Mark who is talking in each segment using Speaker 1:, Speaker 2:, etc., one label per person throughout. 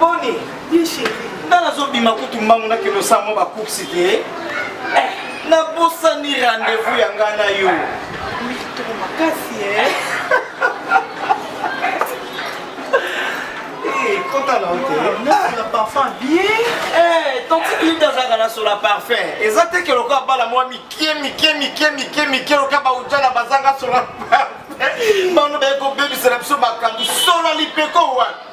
Speaker 1: Boni, ye chérie.
Speaker 2: Nga nazobima
Speaker 1: kutu mbangu na kilo sa mwa ba coups te. Eh, nabosani rendez-vous ya nga na yo. Mitoko
Speaker 2: makasi eh. Eh,
Speaker 1: kota na yo te. Nasola parfum
Speaker 2: bien. Eh,
Speaker 1: tanti Linda azalaka na sola parfum. Eza te ke lokola bala mwa mike mike mike mike mike lokola baujana bazanga sola parfum. Bano baye kobebisela biso makambo sola lipeko wapi?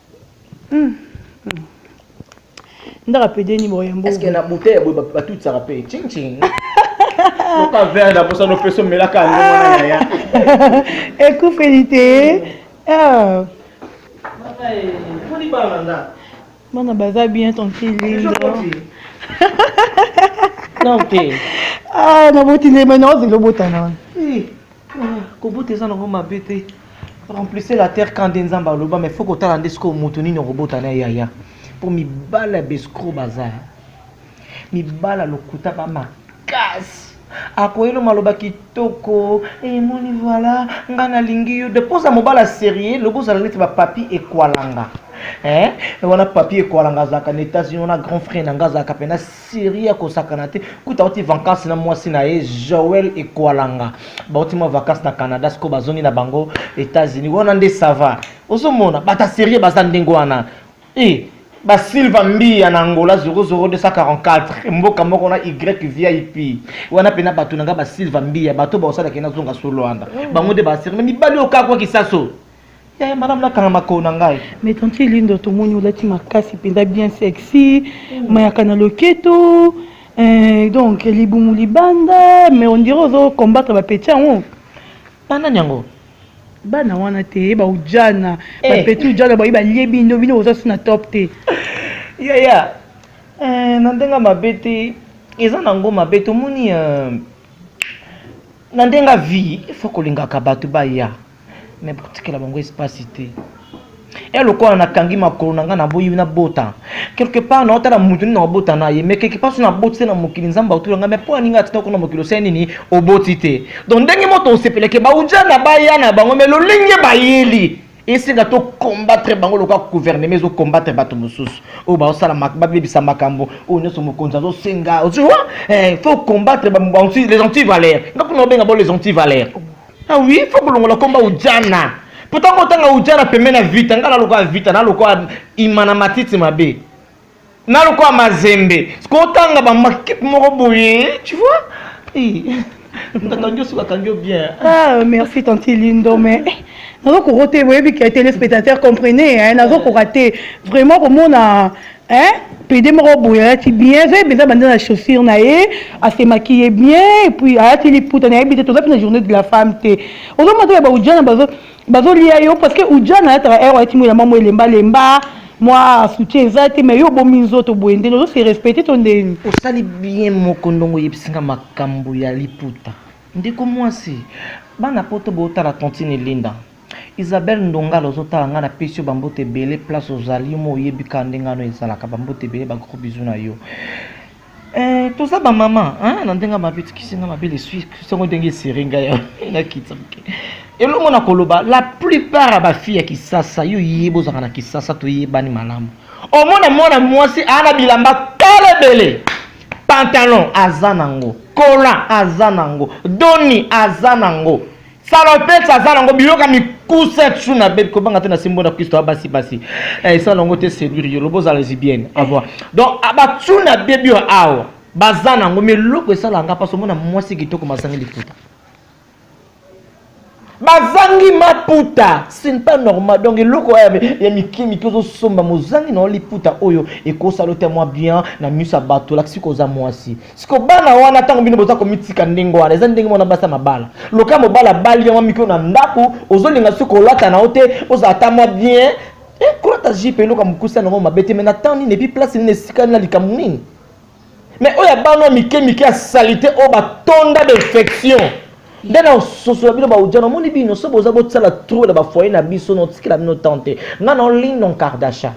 Speaker 1: ndaka pede ni boye mbo est-ce que na bouteille boye batutisaka pe ching ching oka verre na posa no peso melaka yango mwana yaya
Speaker 2: ekufeli te
Speaker 1: ah bana baza
Speaker 2: bien tranquille non
Speaker 1: te ah
Speaker 2: naboti nde mai naozela obotana wana
Speaker 1: Kobota eza nango mabe te. Remplissez la terre quand nde Nzambe aloba mais faut kotala nde sikoyo moto nini okobota na yaya. Mpo mibala ya bescro baza. Mibala lokuta ba makasi. Akoyelo maloba kitoko. Emoni eh, voilà nga nalingi yo. De poza mobala sérieux lobo zala neti ba papi ekwalanga. Hein? Wana papi ekwalanga azalaka na États-Unis wana grand frère na nga azalaka pena serie ya kosakana te kuta auti vacances na mwasi na ye joel ekwalanga bauti mwa vacances na canada siko bazongi na bango états-unis wana nde sava ozomona bata serie baza ndenge wana e eh, basilva mbiya na angola 00244 mboka moko na y vip wana mpena bato na ngai basilva mbiya bato baosalaki nazonga solwanda mm. bango nde basirme mibali oyo kakwaki saso Eh, madame nakanga makolo na ngai mais tante lindo
Speaker 2: tomoni olati makasi mpenza bien sexy mm. mayaka na loketo eh, donc libumu libanda mais ondire ozo combattre bapeti yango banani
Speaker 1: yango bana
Speaker 2: wana te baujana eh. bapeti ujana bayi balie bino bino boza su na top te yaya
Speaker 1: eh, na ndenge mabe te eza nango mabe tomoni na ndenge vie ifo kolingaka bato baya mais botikela bango espace te e eh, lokola nakangi makolo na ngai naboyi nabota quelque part naotala moto nini naobota na ye mais quelque part so naboti te na mokili nzambe autula ngai mais mpo ya ninga atinda kuna mokili osai nini oboti te donc ndenge moto osepeleke bauja na baya na bango mais lolenge bayeli esenga to combattre bango lokola gouvernement ezo combattre bato mosusu oyo baosala babebisa makambo oyo nyonso mokonzi azosenga oziwa eh, faut combattre les antivaleurs nga mpona obenga bo les antivaleurs Ah oui, il faut kolongola komba ujana. Pourtant kotanga ujana pembeni ya vita, ngala lokola vita, na lokola imana matiti mabe. Na lokola mazembe. Kotanga ba makipe moko boye, tu vois? Eh. Nakangi osuka kangi bien. Ah,
Speaker 2: merci tante Lindo mais eh, nazokoka te boyebi ke téléspectateur comprenez hein, nazokoka te vraiment komona Hein? Pede moko boye alati bien eza eza banda na chaussure na ye ase maquille bien et puis alati liputa nayebi te toza mpe na journée de la femme te ozomata ya baujana bazo bazolia yo parce que ujana alataka ero alati mo elamba mo elemba lemba mwa soutien eza te mais yo obomi nzoto boye ndeni ozo se respecte to ndeni osali bien
Speaker 1: moko ndongo oyebisi nga makambo ya liputa ndeko mwasi bana poto botala tontine linda Isabelle ndongala ozotala nga na pesi yo ba mbote ebele place ozali yo mo oyebi ka ndenge wana ezalaka ba mbote ebele ba gros bisous na yo Eh, toza ba maman hein na ndenge mabe tikisi nga mabe le suis songo ndenge esere nga ya na kitsa mke elongo na koloba la plupart ya ba fille ya kisasa yo yeye bozaka na kisasa toyebani malamu omona mwana mwasi ana bilamba kala ebele pantalon aza nango kola aza nango doni aza nango salopes aza nango biloko ya mikuse tu na bebe kobanga te na simbo na kristo abasi basi eh, esala nango te seduire yo lobo ozala lesbienne avoir donc ah, batu na bebe oyo awa baza nango mi eloko esala nga mpasi omona mwasi kitoko mazangi lifuta bazangi maputa ce n'est pas normal donc eloko ya mike mike ozosomba mozangi na yo liputa oyo ekosala yo te mwa bien na miso ya bato olakisi koza mwasi siko bana wana ntango bino boza komitika ndenge wana eza ndenge mwana basi ya mabala loka mobala abali yango mikio na ndako ozolinga soki kolata na yo te ozala ata mwa bien eh, kolata jipe eloka mokuse yango mabe te mai na ntango nini epi place nini esika nini na likambo nini mai oyo abana mike mike ya salite oyo batonda d'infection nde na ososola bino baodia namoni bino so boza bosala tro na bafoye na biso notikela bino tante ngai na olin non kardasha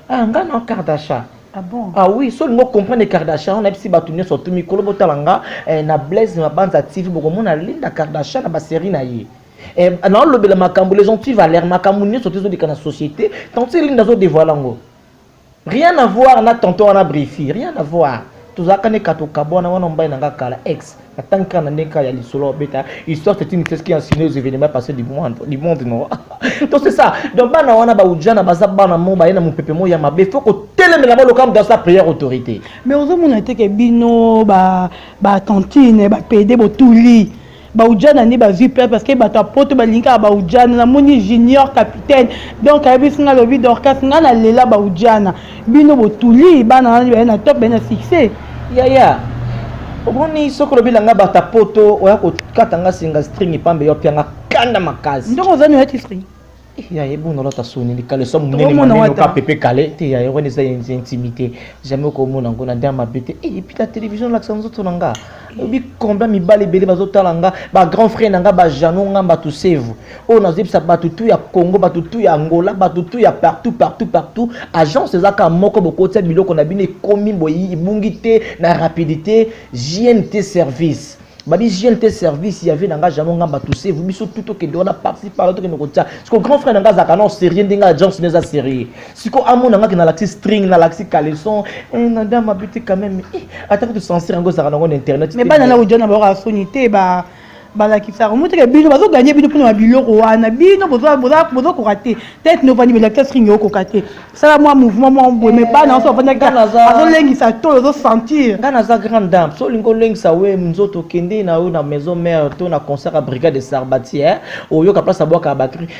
Speaker 1: ah nga na kardasha Ah bon? ah oui
Speaker 2: so olingi okomprendre
Speaker 1: kardashan wana yebisi bato nyonso tu mikolo botala nga eh, na blaise mabanza tv bokomona linda kardashan na baserie na ye eh, naolobela makambo les anti valeur makambo nyonso te ezoleka na société tanti linda azodevoile yango rien à voir na tonton wana brifi rien à voir tozalaka ne katokabwana wana mobali na nga kala ex atangi kaka na ndenge kaka ya lisolo obeta histoire c'est une histoire qui ensigne aux événements passés du monde du monde non donc c'est ça donc bana wana baujana baza bana mo baye na mopepe mo ya mabe faut kotelemela bango lokola moto asala prière autorité mais ozomona te
Speaker 2: ke bino batantine bapede botuli baujana nde bazwi place parce que bato ya poto balingi kaka baujana namoni junior capitaine donc ayebisi ngai alobi dorcas ngai nalela baujana bino botuli bana wana baye na top baye na succès yaya
Speaker 1: omoni soki olobi na ngai bata poto oya kokata ngai singa string epambe yo apia nga kanda makasi ndoko ozani oyaki string eh,
Speaker 2: yaye ebuna
Speaker 1: olata soni likale so moneneoka pepe kale te yaye wana eza intimité jamais okomona yango na nde ya mabe te eh, epuis na télévision olakisa nzoto na ngai obi combien mibali ebele bazotala nga ba grand frère na nga ba jano nga bato sevu oyo nazoyebisa bato tu ya congo bato tu ya angola bato tu ya partout partout partout agence eza kaka moko bokotia biloko na bino ekomi boyi ebungi te na rapidité jnt service babi jnt service ya vie na nga jano nga bato sevu biso tu tokende wana parti partout tokende kotia siko grand frère na nga azalaka nao sérieux ndenge agence no eza sérieux siko amona ngaki nalakisi string nalakisi caleçon eh, na dama abiti quand même eh, ata kutu censure yango ezalaka nango na internet mais bana na ojana bayoka
Speaker 2: soni te ba balakisaka moteke bino bazoganye bino mpona babiloko wana bino bozokoka te tete novandi belakisa string okoka te sala mwa mouvement mwa boye mais bana nyonso bafandaki azolengisa to ozosentir nga naza grande dame
Speaker 1: so olingi olengisa we nzoto okende na yo na maison mare to na concert ya brigade de sarbatiere oyoka place abwaka ya batrie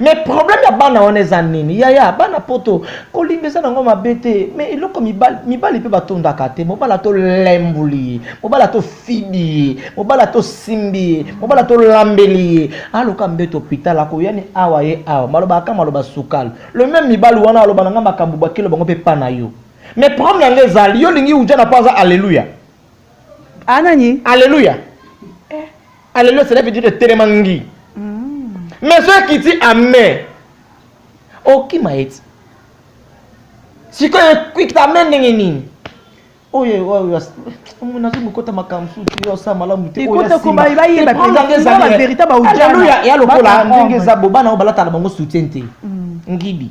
Speaker 1: mais problème ya bana wana eza nini yaya bana poto kolinga eza nango mabe te mais eloko mibali mibali mpe batondaka te mobala tolemboli ye mobala tofibi ye mobala tosimbi ye mobala tolambeli ye aloka mbeto hopital akoya ni awa ye awa maloba aka maloba sukali le même mibali wana aloba nanga makambo bakilo bango mpe pa na yo mais problème yango ezali yo olingi ujana mpo aza alleluya
Speaker 2: anani alleluya
Speaker 1: Alléluia, cela veut dire etelema ngi. Mais soki ekiti amen, okima ye ti. Sikoyo ekita amen ndenge nini? oyo oyo omona azo mokota makambo susu yo osala malamu te oyoyaverita
Speaker 2: baudiana ya lokola
Speaker 1: ndenge eza bo bana oyo balataka bango soutien te ngibi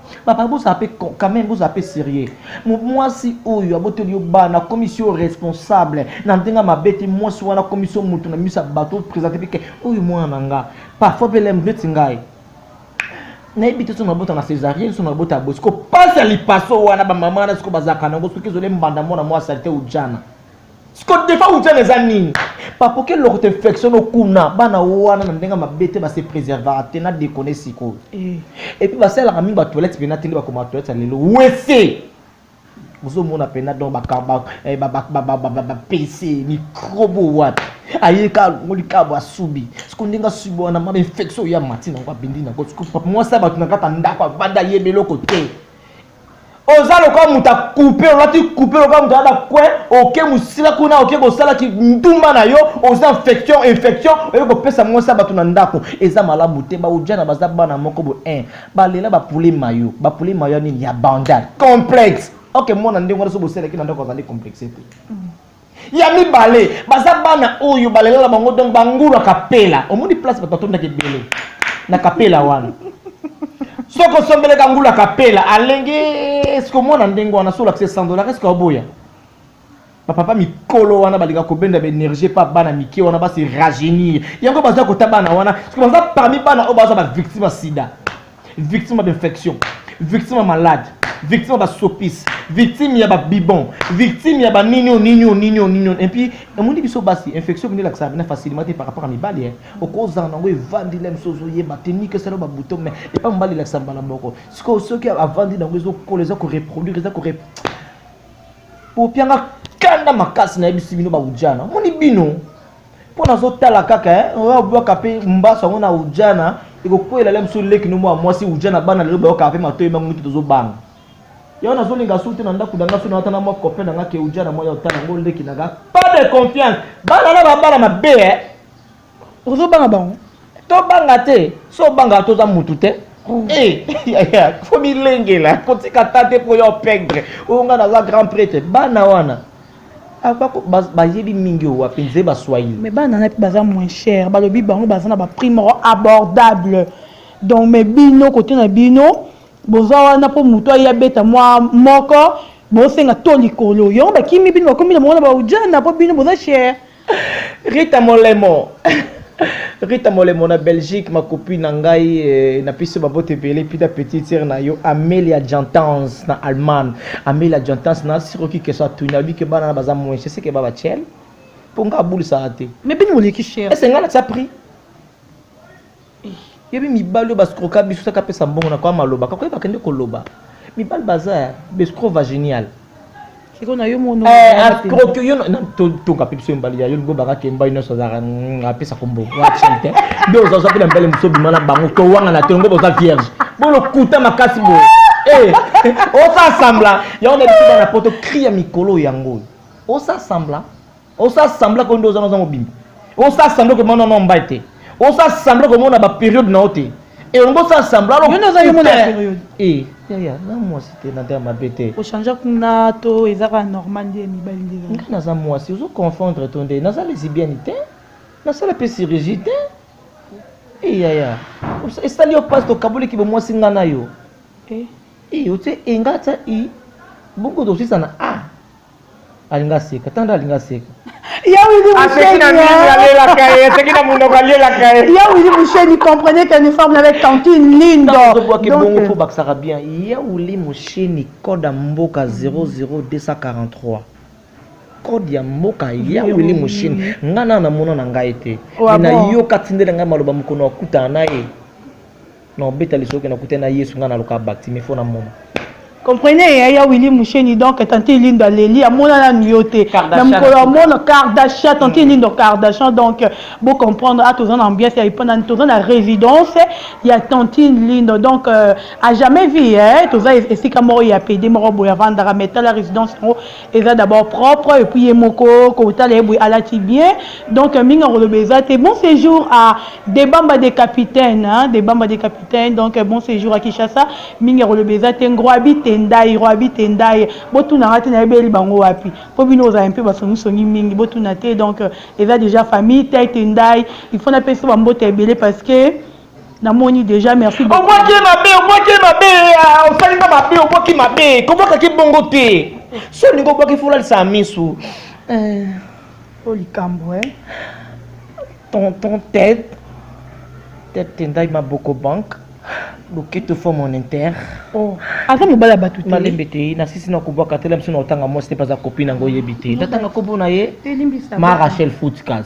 Speaker 1: papa bozala mpe quand même bozala mpe serieux mwasi oyo aboteli yo bana akomisi yo responsable na ndenge ya mabe te mwasi wana akomisi yo moto na miso ya bato opresente mpe ke oyo mwana na nga parfois mpe lem neti ngai nayebi te so nabota na césarienne so nabota ya bosiko mpasi ya lipaso wana bamama wana siko bazalaka nango soki ezole mbanda mwana mwasi alite ujana siko defa utana eza nini papoke eloko te infection okuna bana wana na ndenge mabe te base preservaka te na dekone sikoyo eh. epuis basalaka mingi batoilette mpena te nde bakoma batoilette ya lelo wese ozomona mpena don bapese eh, mikrobe wapi aye ka alongo likabo asubi siko ndenge asubi wana mama infection oyo ya mati nango abindi nango mwasi ya bato na kaka ndako avanda ayeba eloko te oza lokola moto akupe olati kupe lokola moto alata kwe oke mosila kuna oke kosala kindumba na yo oza infection infection oye kopesa mwasi ya bato na ndako eza malamu te baojana baza bana moko bo 1 balela bapule mayo bapule mayo ya nini ya bandal complexe oke mwana ndenge wana so boselaki na ndako azali complexe te mm. Ya mibale, baza bana oyo balalela na bango donc bangulu ya kapela. Omoni place bato batondaki ebele na kapela wana. Soki osombeleka ngulu ya kapela alenge eske omona ndenge wana soki olakisi 100 dollars eske oboya? bapapa mikolo wana balinga kobenda baenergie mpa bana mike wana basi rajeunir yango baza kota bana wana baza parmi bana oyo baza bavictime ya sida victime ya infection victime ya malade victime ya basopisi victime ya babibon victime ya banini o nini o nini o nini et puis emoni biso basi infection bino elakisaka bina facilement te par rapport ya mibali okozala nango evandi na biso ozoyeba te nike esala babuto mai epa mobali elakisa mbala moko sikoyo soki avandi nango ezokola eza koreproduire eza kore popianga kanda makasi nayebisi bino baujana omoni bino mpo nazotala kaka obwaka mpe mbaso yango na ujana ekokwela le mosusu leki no mwa mwasi ujana bana lelo bayokaka mpe matoyi mango mite tozobanga yango nazolinga su te na ndako na nga su na watana mwa copain na nga ke ujana mwa ya otala yango leki na nga pas de confiance bana na babala mabe eh.
Speaker 2: ozobanga bango tobanga
Speaker 1: te so obangaka toza mutu te oh. eh, fo milengela kotika ta te mpo yo opegre oyo ngai naza grand prêtre bana wana Ah, bayebi mingi oyo wapi nze baswahili mais bana na mpe baza
Speaker 2: moins cher balobi bango baza na baprix moko abordable donc mais bino kote na bino boza wana mpo moto aye abeta mwa moko bosenga to likolo yango bakimi bino bakomi na bango na baujana mpo bino boza cher Rita
Speaker 1: Molemo Rita Molemo na Belgique ma copine na ngai eh, na piso babote ebele pita petite sœur na yo Amelia Gentans na Allemagne Amelia Gentans na siroki keso atuni alobi ke bana na baza moins c'est que baba chel mpo nga abulisaka te mais bino moleki cher
Speaker 2: ese nga na tia prix
Speaker 1: yebi mibali oyo bascroka biso saka pesa mbongo na kwa maloba kako yebaka nde koloba mibali baza ya bescro vaginial
Speaker 2: ascroke yo
Speaker 1: totonga mpe biso mibali ya yo lingo baka kemba yo nyonso azalaka mm, apesa kombo wacinte nde ozaza mpe na mbele mosu obima na bango towangana te longo boza vierge bolokuta makasi boye eh, osasambla yango na biso bana poto kri ya mikolo yango oyo osasambla Osa sembla ko ndoza noza mobimba. Osa sembla ko mona non mbai te. Osa sembla ko mona ba periode na ote. Et on bosa sembla alors. Yona za yona periode.
Speaker 2: Eh, ya ya, na
Speaker 1: moi c'était na dama bete. Ko changer kuna
Speaker 2: to ezaka normal nde mibali nde. Nga na za moi si ozo
Speaker 1: confondre to nde na za lesbienne te. Na sala pe chirurgie te. Eh ya ya. Esali yo passe to kabuli ki bo moi singa na yo. Eh. Eh, ote enga ta i. Bongo dosisa na a. alinga aseka tanda alinga aseka aseki na nini alelaka ye aseki na
Speaker 2: monoko alelaka ye ya wili musheni comprenez qu'elle ne forme avec tantine lindo ozobwaki bongo fo
Speaker 1: bakisaka bien ya wili musheni code ya mboka 00243 code ya mboka ya wili musheni ngai nana namona na ngai te nayoka tindela ngai maloba mokolo akutana na ye Non beta lisolo ke na kutani na Yesu nga na loka bakti mais faut na mona. Comprenez
Speaker 2: ya ya Willy Musheni donc tante Elindo aleli amona na nuyo te na mukolo amona Kardashian tante Elindo Kardashian donc bo comprendre a toza na ambiance ya ipana toza na résidence ya tante Elindo donc euh, a jamais vu eh toza esika moko ya pede moko boya vandaka mais tala résidence yango eza d'abord propre et puis ye moko kotala ye boye alati bien donc mingi akoloba eza te bon séjour à debamba de capitaine hein? debamba de capitaine donc bon séjour à kinshasa mingi akoloba eza te ngwabi tendai ngwabi tendai botunaka te nayebeli bango wapi mpo bino ozala mpe basongisongi mingi botuna te donc eza déjà famille tai tendai il faut napesa bambota ebele parce que namoni deja merci obwaki ye mabe
Speaker 1: obwaki ye mabe ah, osali nga mabe obwaki mabe kobwakaki bongo te so olingi obwaki folalisa misu eh, o
Speaker 2: likambo e eh.
Speaker 1: tonton tete tete tendai maboko banke loketo fo mon inter oh, aza
Speaker 2: mobali ya bato te malembe te nasisi na
Speaker 1: kobwaka te lamisi na otanga mwasi te mpe aza kopi nango oyebi te natanga nkombo na ye ma rachel footcas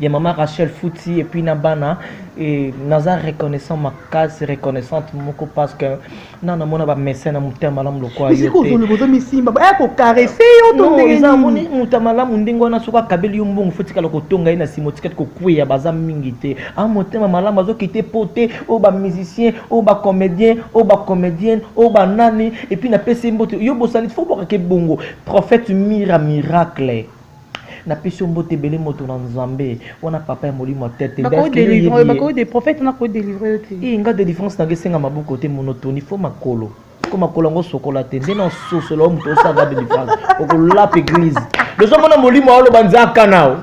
Speaker 1: ya mama Rachel Futi et puis na bana et naza reconnaissant makasi reconnaissante moko parce que na na mona ba médecin na mutema malamu lokola yo te zolo bozo misimba
Speaker 2: ba ko caresser yo to ndenge eza moni muta
Speaker 1: malamu ndenge wana soka kabeli yo mbongo faut tikala ko tonga ina simo tikati ko kuya baza mingi te a motema malamu azo kite pote o ba musicien o ba comédien o ba comédienne o ba nani et puis na pesi mbote yo bosani faut bokake bongo prophète mira miracle Na pesi yo mbote ebele moto na nzambe wana papa ya molimo ya tete nde Bakoki akende délivrer oyebi ye bakoki de
Speaker 2: prophète na ko délivrer yo te. Ii nga delivrance nanga
Speaker 1: esenga maboko te monotoni faut makolo po makolo yango osokola te nde na sosola yo moto osa nga delivrance okolapa eglise de ozo mona molimo aoloba nzaka nao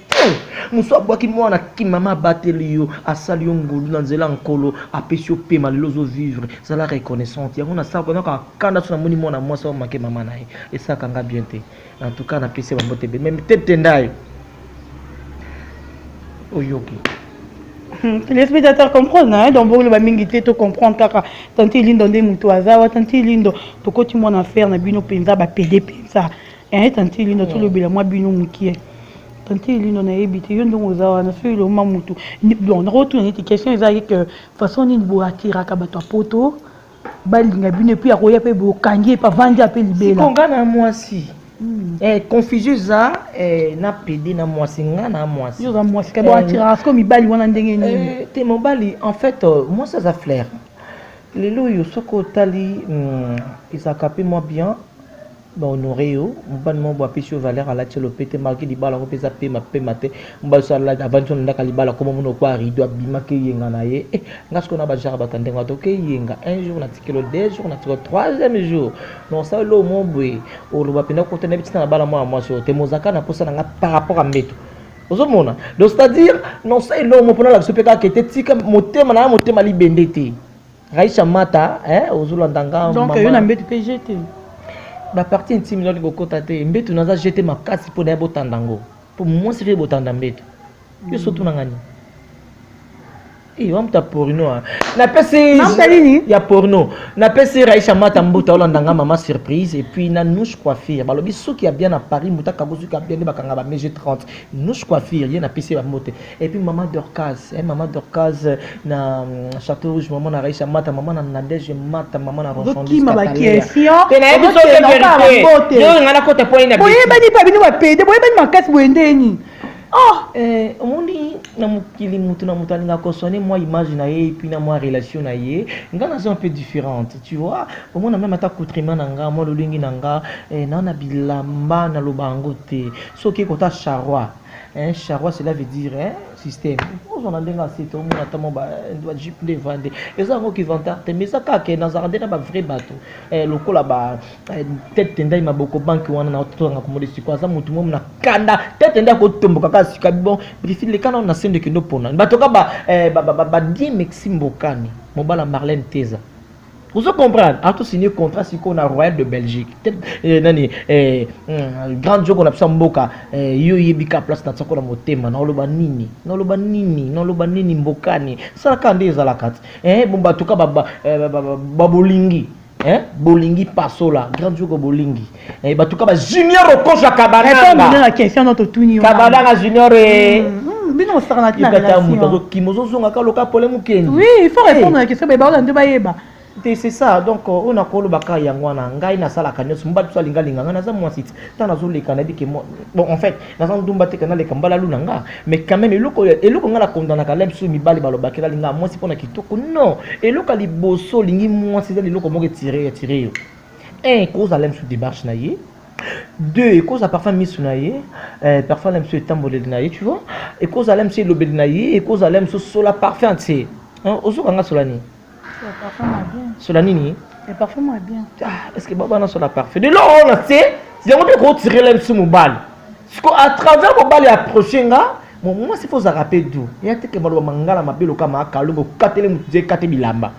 Speaker 1: mosu abwaki mwana ki mama abateli yo asali yo ngolu na nzela ya nkolo apesi yo pema lelo ozo vivre zala reconnaissante yango nasaka naka kanda so namoni mwana mwasi ao make mama na ye esaka nga bien te en tout cas napesi bango te mais te tendayo oyoki hmm,
Speaker 2: les médiateurs comprennent hein? donc boloba mingi te to comprendre kaka tante lindo nde moto aza wa tante lindo tokoti mwana affaire na bino mpenza bapede mpenza Eh, tante Linda, tolobela mwa bino mokie. Tante Linda, nayebi te, yo ndenge oza wana, soki eloma mutu. Bon, nakotuna neti question ezalaki que façon nini bo attiraka bato ya poto, balinga bino epuis akoya mpe bokangi ye mpe avandi ya mpe libela. Siko nga na mwasi.
Speaker 1: Hmm. Eh, confusion eza eh, na pede na mwasi nga na mwasi. Yo oza mwasi, kabo eh, attiraka
Speaker 2: siko mibali wana ndenge nini? Eh, te mobali, en
Speaker 1: fait, euh, mwasi aza flair. Lelo oyo soki otali, hmm, ezalaka mpe mwa bien. ba honore yo mobali moko boye apesi yo valeur alati yo lopete marke libala yango mpe eza pema pema te mobali so avandi na ndako ya libala koma mona okwa rido abimaki eyenga na ye eh, nga sikoyo na bajara bato ya ndenge wato oke eyenga un jour na tikelo deux jour na tikelo troisième jour na osala eloo mo boye oloba mpenza kota nayebi ntina na bala mwana mwasi oyo te mozaka na mposa na nga par rapport ya mbeto ozomona donc c'est à dire na osala eloo mo mpo nalakisa mpe kaka ete tika motema na ya motema libende te Raisha Mata eh ozolanda nga mama. Donc yo na mbetu pe
Speaker 2: jete. Ba
Speaker 1: partie intime ndio kokota te. Mbetu naza jete makasi po na botanda ngo. Po mwasi fe botanda mbetu. Yo mm. sotu na ngani? Eh wa mta porno. Ah. Na pesi Mta nini? Ya porno. Na pesi Raisha Mata mbuta olanda nga mama surprise et puis na Nouche Coiffure. Balobi soki ya bien na Paris mbuta kabuzu ka bien bakanga ba meje 30. Nouche Coiffure ye na pesi ba mbote. Et puis maman Dorcas, hein, maman Dorcas na Château Rouge, maman na Raïcha Mata, maman na Nadège Mata, maman na Rochon Luis Katalea.
Speaker 2: Te na yebi soki
Speaker 1: verité. Yo ngana kota point na. Boye bani pa bino ba pede,
Speaker 2: boye bani makasi boye ndeni. Oh,
Speaker 1: eh, omoni na mokili moto na moto alinga kosone mwa image na ye epuis na mwa relation na ye nga naza un peu différente tu vois omona meme ata coutrement na nga mwa lolenge na nga eh, naa na bilamba naloba yango te soki ekota charroi Hein, charwa cela veut dire hein, système ozwa na ndenge asete omona ata mwa bajipe eh, nde evande eza yango kivantard te mais eza kaka ke nazalaka nde na bavrai bato eh, lokola ba eh, tete tendai maboko banki wana na totanga komode siko aza motu momo na kanda tete nde akotomboka kaka sika bon brifine lekana na sende kende opona bato kaka badie mexi mbokani mobala marlene teza Vous comprenez A tout signé contrat si on a Royal de Belgique. Eh, nani eh, hmm, grand joko na psa mboka eh, yo yebika place na tsako na motema na oloba nini na oloba nini na oloba nini mbokani sala ka nde ezala kati eh bon batuka ba ba, eh, ba, ba, ba, ba bolingi eh bolingi pasola grand joko bolingi Eh, batuka ba junior okosha kabananga question no totuni
Speaker 2: yo kabananga junior eh.
Speaker 1: mm, mm, bino
Speaker 2: osaka na tina relation moto akokima ozozonga ka loka
Speaker 1: pole mokeni oui il faut eh. répondre na
Speaker 2: question baye baola nde bayeba te c'est ça
Speaker 1: donc euh, oyo nakolobaka yango wana ngai nasalaka nyonso mobali biso alingalinga ngai naza mwasi ti ntango nazoleka nayebi ke bon en fait naza ndumba te kana leka mbalalu na nga mais quand même eloko eloko ngai nakondanaka la biso mibali balobaki nalingaa mwasi mpo na kitoko non eloko ya liboso olingi mwasi eza liloko moko etire etire yo un ekoza la misu démarche na ye deux ekoza parfum misu na ye euh, parfum la misu etamboleli na ye tu vois ekoza la misu elobeli na ye ekoza la misu sola parfum tse hein, ozoka nga sola nini sola nini ah, est
Speaker 2: ce que
Speaker 1: babana sola parfum de lor
Speaker 2: wana
Speaker 1: tse yango mpe ekotire la misu mobali siko à travers mobali approche nga mwasi fo ozalaka mpe du ya teke maloba mangala mabe lokama akalongo okatele motu te ekate bilamba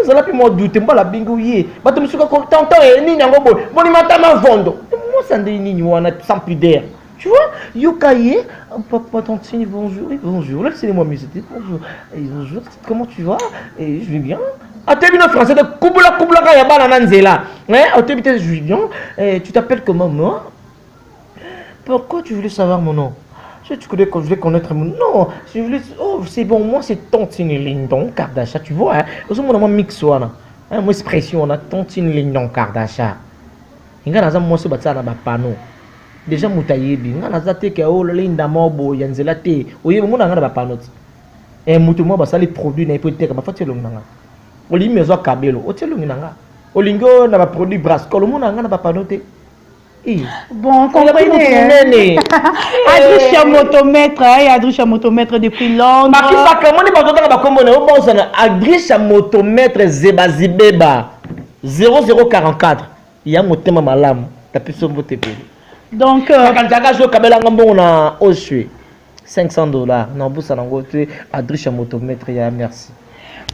Speaker 1: ezala mpe mwa dute mbala bingi oye bato mosuka tonton e nini yango boye boni matama vondo mwasa ndenge nini wana sans pudeur tu vois yoka ye oh, papa tantine bonjour oui, bonjour là c'est les moi musité bonjour et bonjour comment tu vas et je vais bien ate bino français te kubula kubulaka ya bana na nzela otebi te je vais bien tu t'appelles comment moi Pourquoi tu voulais savoir mon nom Je tu voulais, voulais connaître mon nom. Je voulais, oh, c'est bon, moi c'est Tantine Lindon Kardasha, tu vois. Hein? Parce que moi, mix, voilà. Hein, moi, expression, on a Tantine Lindon Kardasha. Inga naza moi se batsa na ba panneau. Déjà mutayebi, inga naza te ke oh linda mobo ya nzela te. Oye mo na nga na ba panneau. Eh mutu mo basali produit na epoteka ba fati longa nga. Oli mezo kabelo, otelongi na nga. Olingo na ba produit brascol mo na nga na ba panneau te.
Speaker 2: Bon, comprenez. Adrisha Motomètre, hein, Adrisha Motomètre depuis Londres. Marquis Baka, moi, pas
Speaker 1: autant ba combo na yo bon sana. Adrisha Motomètre Zeba Zibeba 0044. Ya motema malamu, tapi sombo te pele. Donc, euh,
Speaker 2: quand tu as joué
Speaker 1: Kabela Ngambon na Osue. 500 dollars na busa na ngo te adriche moto maître ya merci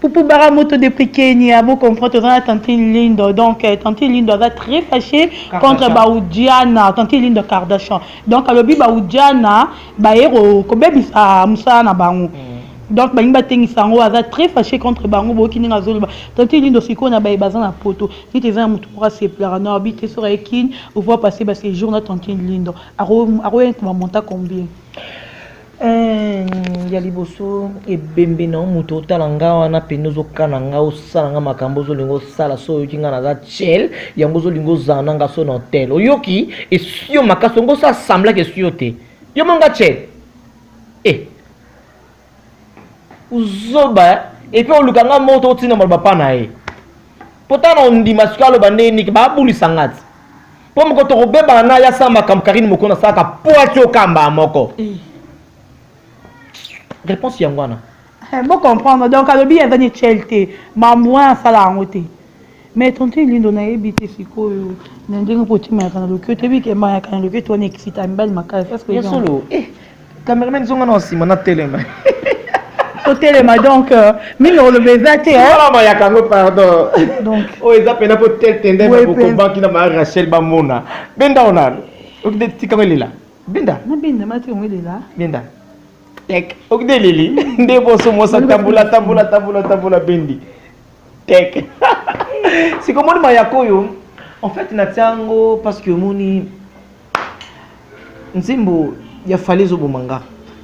Speaker 1: Poupou Bara
Speaker 2: Moto de Prikenia, vous comprenez, dans la tante Lindo. Donc, euh, tante Lindo est très fâchée contre Baoudiana, tante Lindo Kardashian. Donc, elle a dit Baoudiana, Baero, Kobebis à Moussa Nabango. Mm. donc balingi batengisa yango aza très fâché contre bango boyoki ndenge azoloba tante lindo sikoyo na baye baza na poto neti eza na motu moko asepelaka na obi te soki aye kine ovoi passe basejour na tante lindo Ako ako y'a kuma monta combien?
Speaker 1: Eeh ya liboso ebembe na moto otala nga wana pende ozokana nga osala nga makambo ozolinga osala so oyoki nga naza chel yango ozolinga ozala na nga so na hotel oyoki esio makasi ongo osala semblake esio te yo monga chel e eh. Zoba eh? Et puis oluka nga moto otinda maloba pa na ye mpo ntango na ondima sikoyo aloba nde niki babulisa nga ti mpo moko tokobebana na ya sala makambo karine moko nasalaka po ati okamba moko eh. réponse yango wana eh, bocomprendre
Speaker 2: donc alobi aza nichel te mamwin asala yango te Mais tonton Elindo nayebi te sikoyo na ndenge mpo otimayaka na loketo yebi ke mayaka na loketo wana ekisita mibali makasi est-ce que ya solo eh
Speaker 1: cameraman zonga na nsima na telema
Speaker 2: totelema donc euh, mingi oloba eza te mayaka yango
Speaker 1: pardon donc oyo oh, eza
Speaker 2: mpena mpo
Speaker 1: tel tende bakokobanki na ma rachel bamona benda ona okide tikanga elela benda na benda mati yango
Speaker 2: elela benda
Speaker 1: tek okide eleli nde boso mosa tambola tambola tambola tambola bendi Tek. Siko moni mayako oyo en fait na tiango parce que moni nzembo ya fali ezoboma nga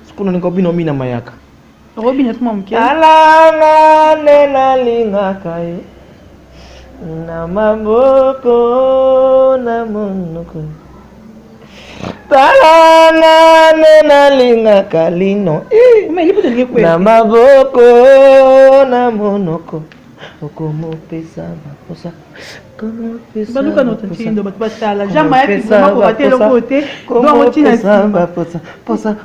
Speaker 1: sikoyo nalinga obina omina mayaka okobina tuma
Speaker 2: moke alanga
Speaker 1: nde nalingaka ye na maboko na monoko tala nga nde nalingaka lino na maboko na monoko okomopesa baposa baluka notre tindo bato
Speaker 2: batala jean
Speaker 1: mayakiposa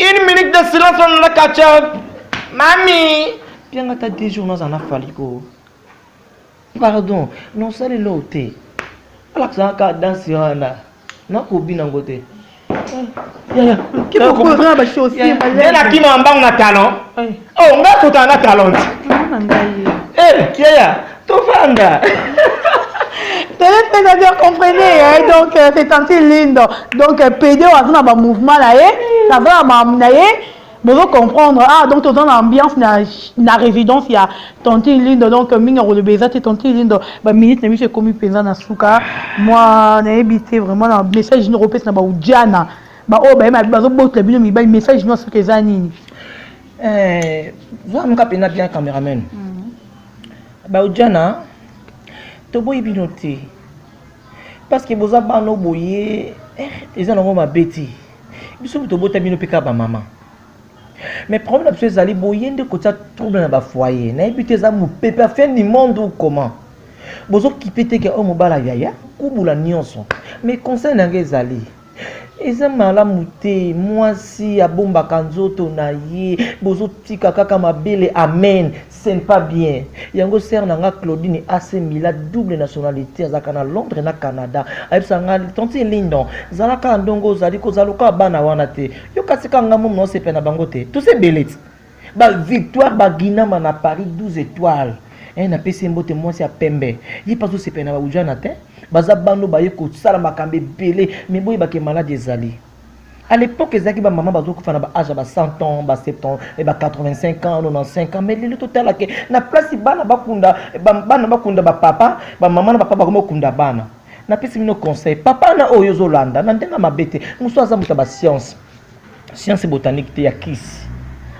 Speaker 1: Une minute de silence on la catch Mami Pianga ta 10 jours naza na fali ko. Pardon, non sali lo te. Ala ka ka danse wana. Na ko bina ngo te. Yaya, kipo ko
Speaker 2: na ba choses. Yaya, na kima mbangu na
Speaker 1: talon. Oh, nga kutana na talent. Mama ngai. Eh, Kiaya, tofanda.
Speaker 2: téléspectateur comprenez hein? donc euh, c'est tantine lindo donc euh, pede oyo aza na bamouvement na ye aza na mamu na ye bozo comprendre ah donc toza na ambiance na, na résidence ya tantine lindo donc euh, mingi akoloba eza te tantine lindo baminute na biso ekomi mpenza na suka mwa nayebi te vraiment na message nokopesa na baudiana ba oyo baye bazo botla bino mibali message non soki eza nini eh zo
Speaker 1: amuka pena bien cameraman mm. ba ujana to boyi bino te parce que boza bano boye eh, eza nango mabe te biso moto obota bino mpe kaka bamama mais problème na biso ezali boye nde kotia trouble na bafoyer nayebi te eza mopepe ya fin du monde ou comment bozokipe te ke oyo oh, mobala yaya kubula nyonso mais conseil na yango ezali Eza malamu te mwasi abombaka nzoto na ye bozotika kaka mabele amen cest pas bien yango sere na nga claudine ac mila double nationalité azalaka na londres na canada ayebisa nga tanti lindon zala kaka ndongo ozali kozala lokola bana wana te yo kasi kaka nga momi naosepela na bango te tose belete Ba victoire ba ginama na Paris 12 etoiles. Eh na pesi mbote mwasi ya pembe. Ye pazo sepela na ba ujana te. Baza bando baye kosala makambo ebele mais boyeba ke malade ezali. À l'époque ezalaki ba maman bazo kufa na ba âge ba 100 ans, ba 70 ans, et ba 85 ans, 95 ans mais lelo totala ke na place bana bakunda bana bakunda ba papa, ba maman na ba papa bakoma kunda bana. Na pesi bino conseil, papa na oyo ozolanda na ndenge mabe te, musu aza moto ya ba science. science botanique te ya kisi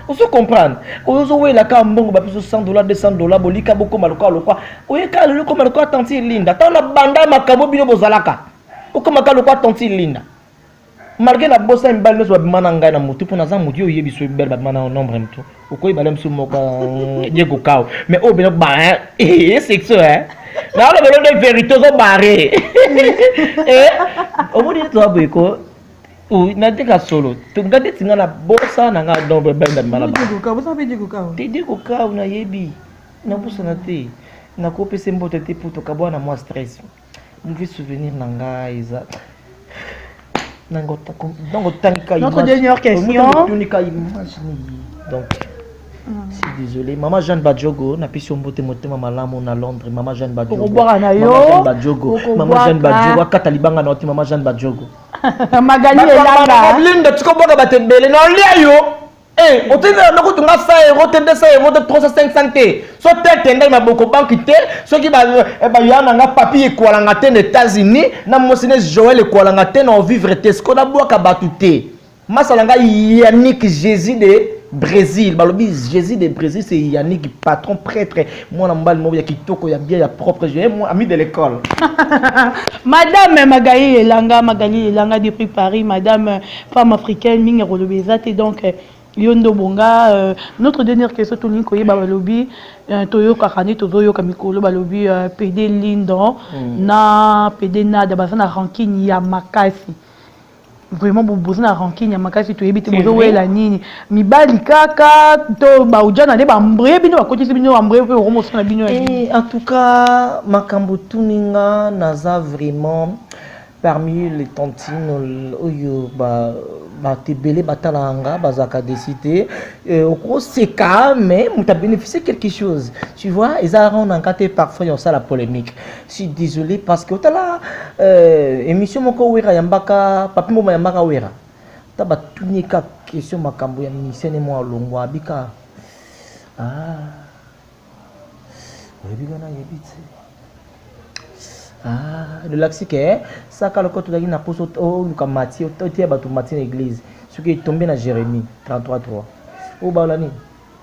Speaker 1: ozo comprendre ozo wela ka mbongo ba biso 100 dollars 200 dollars bolika bokoma lokola lokola oyeka lelo koma lokola tantine linda ntango na banda makambo bino bozalaka okoma ka lokola tantine linda malgré na bosa mibali nyonso babima na ngai na motu mpo naza motu yo oyebi so mibali babima na nombre motu okoyeba le mosusu moko ye kokao mais oyo bino ba ye sexo e naolobelo nde vérité ozobare omoni toza boye ko natika solo nga ndeti nga na bosa na nga donc bendamanaedi kokau nayebi nabosana te nakopesa mbote te mpo tokabwa na mwa stress mauvais souvenir na nga eza donc otangika notre dernière question
Speaker 2: otunika image nini
Speaker 1: donc Mm. si désolé mama jeanne badjogo napesi yo mbote motema malamu na londres mama jeanne badjogo mama jeanne badjogo akata libanga na yo te mama jeanne badjogo magali
Speaker 2: elanga blinde tika obwaka bato
Speaker 1: ebele na olia yo Eh, otindela noko tunga 100 euro te 200 euro te 300 500 te so te tendai maboko banki te soki baya eh, na nga papi ekwalanga te na états-unis na mosine joel ekwalanga te na ovivre te siko nabwaka bato te Masa na ngai Yannick Jésus de Brésil balobi Jésus de Brésil c'est Yannick patron prêtre mwana mobali moko ya kitoko ya bien ya propre je moi ami de l'école
Speaker 2: Madame Magali Elanga Magali Elanga depuis Paris Madame femme africaine mingi akoloba eza te donc euh, yo nde obonga euh, notre dernière question tolingi koyeba balobi euh, toyokaka nde tozoyoka mikolo balobi euh, pede lindon mm. na pede nada baza na rankine ya makasi Vraiment bo boza na rancune ya makasi toyebi te bozo wela nini mibali kaka to ba ujana nde ba mbre bino bakotisi bino ba mbre pe boko mosana bino ya Eh, en tout cas
Speaker 1: makambo otuni nga naza vraiment parmi les tantines ol- oyo ba- bato ebele batalaka nga bazalaka desi te Eh, okoseka mais moto abénéficie quelque chose tu vois eza rond na nga te parfois ya kosala polémique suis désolé parce que otala euh, émission moko wera yambaka papi mboma yambaka wera ta batuni ka question makambo ya ministère ne mwa longwa abika ah. oyebi wana yebi te ah, lolakisi ke eh, saka loko tozalaki na mposo oluka mati oteya bato mati na église soki etombe na jérémie 33 3 oyo baola nini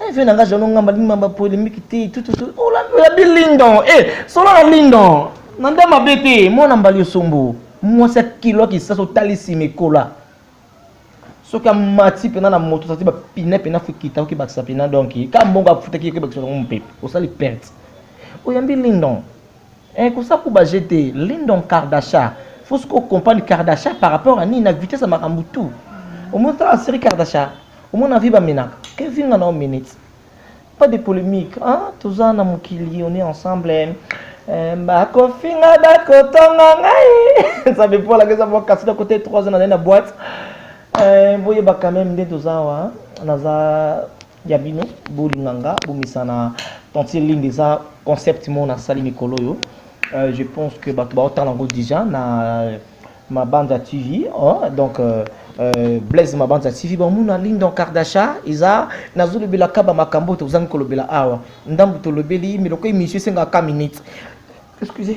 Speaker 1: Eh, vie na nga jalo ngamba lima ba polemique te tout tout tout. Oh la la bi lindon. Eh, solo la lindon. Na nda mabe te, mwana mbali osombo. Mwasi ya kilo kisaso talisi mekola. Soki amati pena na moto tati ba pine pena fukita oki bakisa pena donc ka mbongo afutaki oki bakisa ngo mpe osali perte. Oyambi lindon. Eh kosa kuba je te Lindon Kardasha faut ce qu'on comprendre Kardasha par rapport à Nina vitesse ya makambo tout au moins tala série Kardasha au moins na vie ba menaka que vinga na minutes pas de polémique hein toza na mokili on est ensemble eh, bakofinga bakotonga ngai nzambe mpo alaka eza mwa kasi na kote 3 ans na nai na boite eh, boyeba quand même nde toza wa naza ya bino bolinga nga bomesana tantine linde eza concept moko nasali mikolo oyo euh, je pense que bato baotala yango déjà na euh, mabanza tv oh, donc euh, euh, blaise mabanza tv bamona lindon kardasha eza nazolobela kaba makambo oyo tozangi kolobela awa ndambo tolobeli miloko emission esengaka minute excusez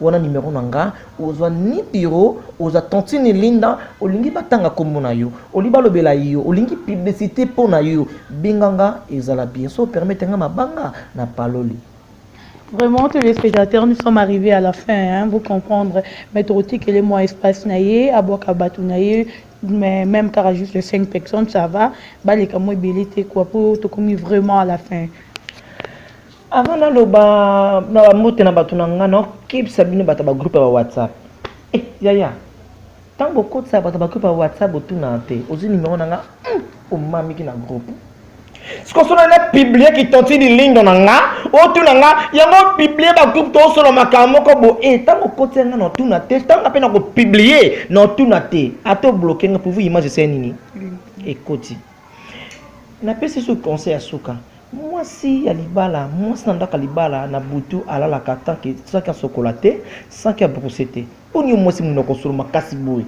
Speaker 1: Wana numero na nga ozwa ni biro oza tantine linda olingi batanga kombo na yo olingi balobela yo olingi publicité mpo na yo benga nga ezala bien so permete nga mabanga na paloli Vraiment,
Speaker 2: tous les spectateurs, nous sommes arrivés à la fin, hein, vous comprendre. Mais Torotique, elle est moins espace naïe, à Boakabatou naïe, mais même car juste les 5 personnes, ça va. Bah, les camots, bilité, quoi, pour tout comme vraiment à la fin.
Speaker 1: Avant naloba na ba mbote na bato na nga na okebisa bino bato ya ba groupe ya ba WhatsApp. Eh yaya, ntango bokotisa bato ya ba groupe ya WhatsApp botuna te ozwi nimero na nga hmm, omamiki na groupe sikoyo sona na publie kitonti lilindo na nga otuna nga yango opiblie bagroupe toosolo makambo moko bo e ntango okoti yanga na otuna te ntango mpe na kopiblie na otuna te ata obloke nga pouvu image esai nini ekoti Na pesi soki conseil ya suka. Mwasi ya libala, mwasi na ndako ya libala na butu alalaka tant que sans que asokola te, sans que a brousser te. Boni yo mwasi munoko solo makasi boye?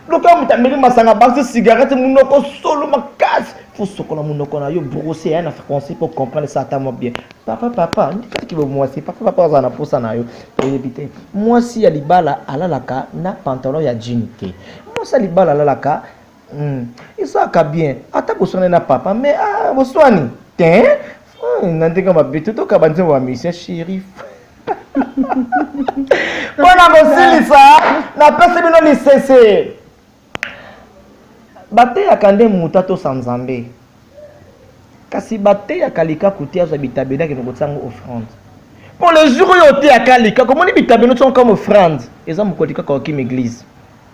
Speaker 1: Lokola moto ameli masanga, abakisi cigarette, munoko solo makasi. Faut sokola munoko na yo, brosser ya na français pour comprendre ça ata mwa bien. Papa papa, ndika kibo mwasi, papa papa azala na posa na yo. Oyebi te. Mwasi ya libala alalaka na pantalon ya jean te. Mwasi ya libala alalaka Hmm. ezalaka bien ata boswana na papa mais ah, boswani te hmm, na ndenge mabe totoka banzembo ya musien sherif mpo na kosilisa napesi bino lisese bateyaka nde moto atosa nzambe kasi bateyaka likaku te azwa bitabelaki na kotia yango offrande mpo le jour oyo oteyaka likaku omoni bitabelo tia yango comme offrande eza mokoli kaka okimi eglise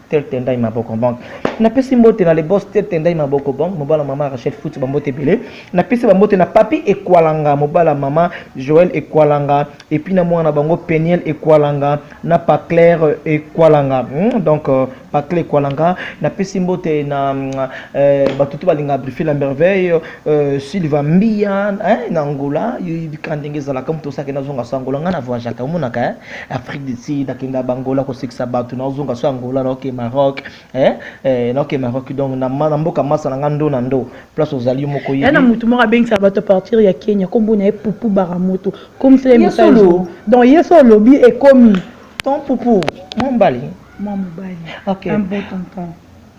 Speaker 1: Tel Tendai Maboko Bank. Na pesi mbote na le boss Tel Tendai Maboko Bank, mobala mama Rachel Foot ba mbote belé. Na pesi ba mbote na Papi Ekwalanga, mobala mama Joël Ekwalanga et puis na mwana bango Peniel Ekwalanga na Pa Claire Ekwalanga. Hmm, donc euh, Pa Claire Ekwalanga na pesi mbote na mm, euh, bato tout balinga briefer la merveille euh, Silva Mbia hein, na Angola, yo yebika ndenge ezalaka moto osake na zonga sa Angola ngai na voyageaka omonaka hein. Afrique du Sud, nakenda Bangola kosekisa bato naozonga so Angola naoke Maroc eh, eh, naoke Maroc donc na, na mboka masa na nga ndo na ndo place ozali yo moko yebi na moto moko abengisa bato
Speaker 2: partir ya Kenya kombo na ye Pupu Baramoto komisela ye message donc ye so olobi ekomi ton Pupu
Speaker 1: mwa mbali mwa mobali
Speaker 2: okay. un beau tonton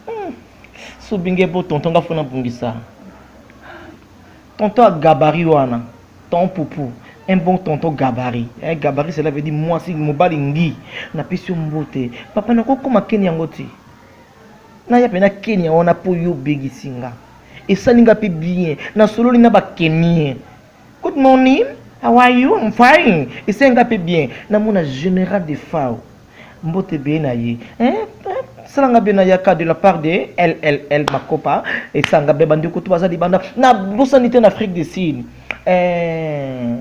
Speaker 2: hmm.
Speaker 1: sobinge bo tonton nga fona bungisa Tonton ya gabarit wana ton poupou un bon tonton gabarit eh, gabarit cela veut dire mwasi mobali ngi napesi yo mbote papa nakokoma keni yango te naya mpe na kenya wana mpo yo obegisi nga esali nga mpe bien nasololi na bakemie good morning how are you I'm fine esali nga mpe bien namona général de fao Mbote be na ye. Eh, eh, salanga be na yaka de la part de LLL Makopa et sanga be bandi kutu baza libanda. Na bosani te na Afrique du Sud. Eh,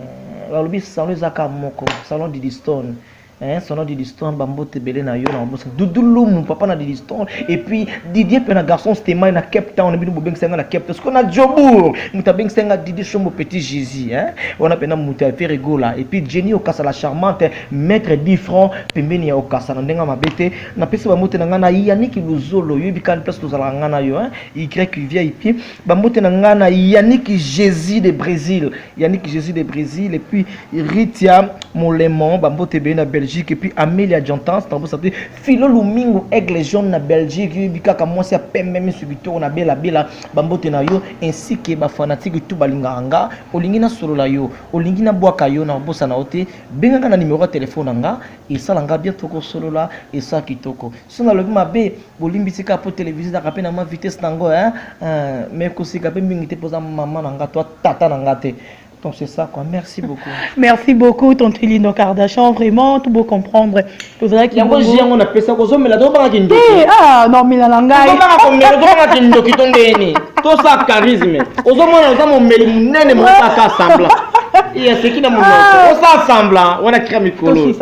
Speaker 1: balobi salon ezaka moko, salon de Didistone. Eh, salon de Didistone bambote bele na yo na bosani. Dudulumu papa na Didistone et puis Didier pe na garçon Stemay na Cape Town bino bobengisa nga na Cape Town. Siko na Jobourg, muta bengisa nga Didi Shombo Petit Jésus, hein. Wana pe na muta Ferregola et puis Jenny Okasa la charmante Maitre dit franc pembeni ya okasa na ndenga mabe te na pesi ba mbote na nga na Yannick Luzolo yo bikani place tozalaka nga na yo hein y VIP ba mbote na nga na Yannick Jésus de Brésil Yannick Jésus de Brésil et puis Ritia Molemon ba mbote be na Belgique et puis Amelia Jantans tango sa Philo Lumingo Aigle Jaune na Belgique yo bikaka mwasi ya pembe misu bitoko na bela bela ba mbote na yo ainsi que ba fanatiques tout balingaka nga olingi na solo la yo olingi na bwaka yo na bosa na ote Benga nga na numero ya telefone na nga, esala nga bien toko solola, esa kitoko. Soki nalobi mabe, bolimbisi kaka po television ezalaka pe na mwa vitesse na ngo hein. Euh, mais koseka pe mingi te po oza mama na nga, to tata na nga te. Donc c'est ça quoi. Merci beaucoup. Merci beaucoup
Speaker 2: Tonton Lino Kardashian, vraiment tout beau comprendre. tozalaki yango ji yango na pesa
Speaker 1: kozomela tobanga kindoki eh, ah, nomela na
Speaker 2: ngai tobanga komela tobanga
Speaker 1: kindoki to ndeni tosa charisme ozomona oza momeli monene mokaka sembla ya seki na monoko ah. osa sembla wana kira mikolo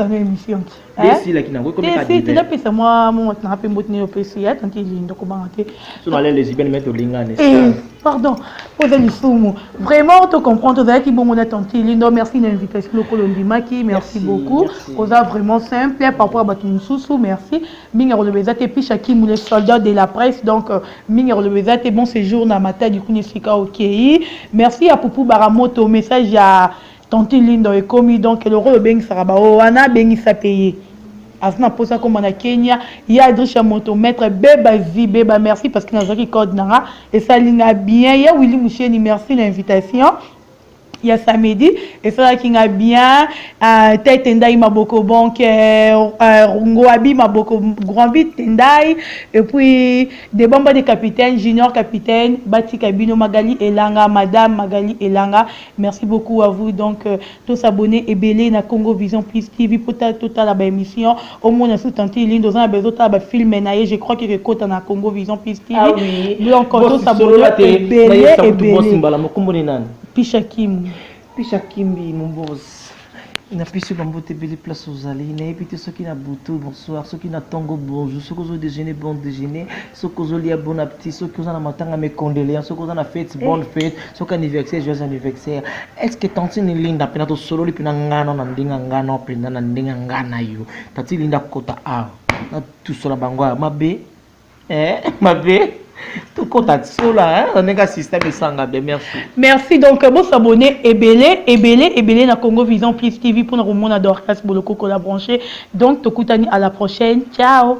Speaker 2: esilaki nango
Speaker 1: ekomepesa mwa
Speaker 2: momati nanga mpe mboti nayo opesi ya tanti elindo kobanga te so nalelezibene
Speaker 1: mete olingani eh. Pardon,
Speaker 2: oza lisumu. Vraiment, to comprendre, ozalaki bongo na tante Lindo. Merci na invitation lokolo ndimaki. Merci beaucoup. Oza vraiment simple par rapport à batu mususu. Merci. Minga koloba ezate pisha kimu le soldat de la presse. Donc euh, minga koloba ezate bon séjour na matadi kuni sika okay. Merci à Poupou Baramoto message ya Tantine Linda ekomi donc lokola obengisaka ba oyo wana abengisa pe ye aza na posa komba na Kenya ya Adrisha moto maître beba zi beba merci parce que nazaki code nanga esali nga bien ya Willy Musheni merci na invitation ya samedi esalaki nga bien uh, tete ndai maboko bonke euh, uh, ngoabi maboko grand vite ndai et puis de bamba de capitaine junior capitaine batika bino magali elanga madame magali elanga Merci beaucoup à vous donc euh, to s'abonner ebele na Congo Vision Plus TV po ta to tala ba émission au moins sur tantine ligne dans un besoin ta ba film na ye je crois que kota na Congo Vision Plus TV ah oui donc to s'abonner ebele ebele mbala mokumbo ni nani Pisha Kim Pisha Kimbi
Speaker 1: mon boss Na pesi ba mbote ebele place ozali. Na yebi te soki na butu bonsoir, soki na tongo bonjour, soki ozo dejeuner bon dejeuner, soki ozo lia bon appetit, soki oza na matanga mes condoleances, soki oza na fete eh. bonne fete, soki anniversaire joyeux anniversaire. Est-ce que tantine Linda pena to sololi pena ngana na ndinga ngana pena na ndinga ngana yo. Tati Linda kota a. Na tusola bango mabe. Eh, mabe tokota tisola oninga sista misanga be merci merci donc euh,
Speaker 2: bosabone ebele ebele ebele na congo vision plus tv mpona komona dorcas bolokoko la branche donc tokutani à la prochaine ciao